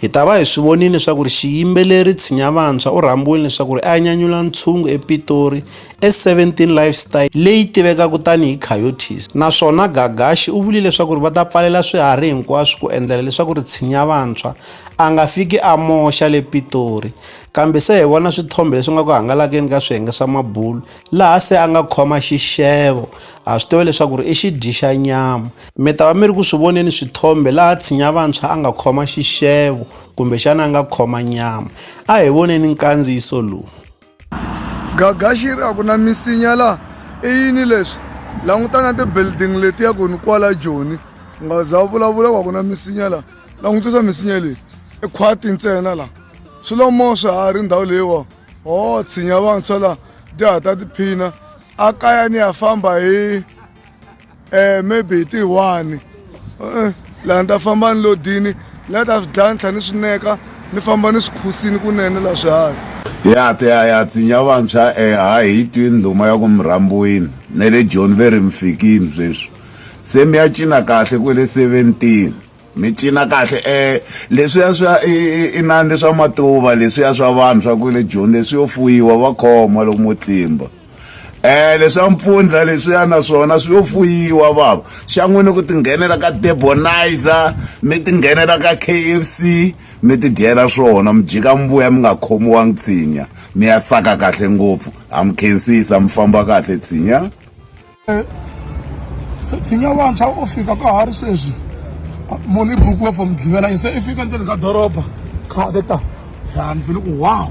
Hi ta va hi swi vonile leswaku ri xiyimbeleri Tshinya Vantshwa u rhambiwile leswaku ri a ya nyanyula ntshungu ePitori e17 Lifestyle leyi tivekaka tani hi Coyotes naswona Gagashi u vulile leswaku ri va ta pfalela swiharhi hinkwaswo ku endlela leswaku ri Tshinya Vantshwa a nga fiki a moxa le Pitori kambe se hi vona swithombe leswi nga ku hangalakeni ka swiyenge swa mabulo laha se a nga khoma xixevo ha swi tiva leswaku ri i xidyi xa nyama Mi ta va mi ri ku swi voneni swithombe laha tshinya vantshwa a nga khoma xixevo kumbexana a nga khoma nyama. A hi voneni nkandziyiso lowu. Gaga xi ri, A ku na misinya laha. I yini leswi? Languta na tibildingi letiya ku ni kwala Joni. U nga za u vulavula ku a ku na misinya laha. Langutisa misinya leyi. I khwati ntsena laha. Swi lo moo swiharhi ndhawu leyiwa. Ho, tshinya vantshwa laha. Dya ha ta tiphina. A kaya ni ya famba hi. eh maybe hi ti one eh, laha ni ta famba ni lodini la ta swi dlaya ni tlhela ni swi neka ni famba ni swi khusini kunene la swiharhi ya te ya ya tsinya vantshwa e eh, ha hi twi ndhuma ya ku murhambiwini ne le john ve ri mi fikini sweswi se mi ya cina kahle ku le seventeen mi cina kahle um leswiya swa inani leswa matuva leswiya swa vanhu swa ku le joni leswi yo fuyiwa va khoma loko mo tlimba um leswa mpfundla leswiya na swona swi yo fuyiwa vava xa n'wini ku tinghenela ka debonizer mi tinghenela ka k f c mi tidyela swona mi jika mvuya mi nga khomiwangi tshinya mi ya saka kahle ngopfu ha mi khensisa mi famba kahle tshinya tshinya vantshwa o fika ka ha ri sweswi moni bukiwe for mugqivela yi se i fika ndzeni ka doroba khade ta ya ni vile ku wow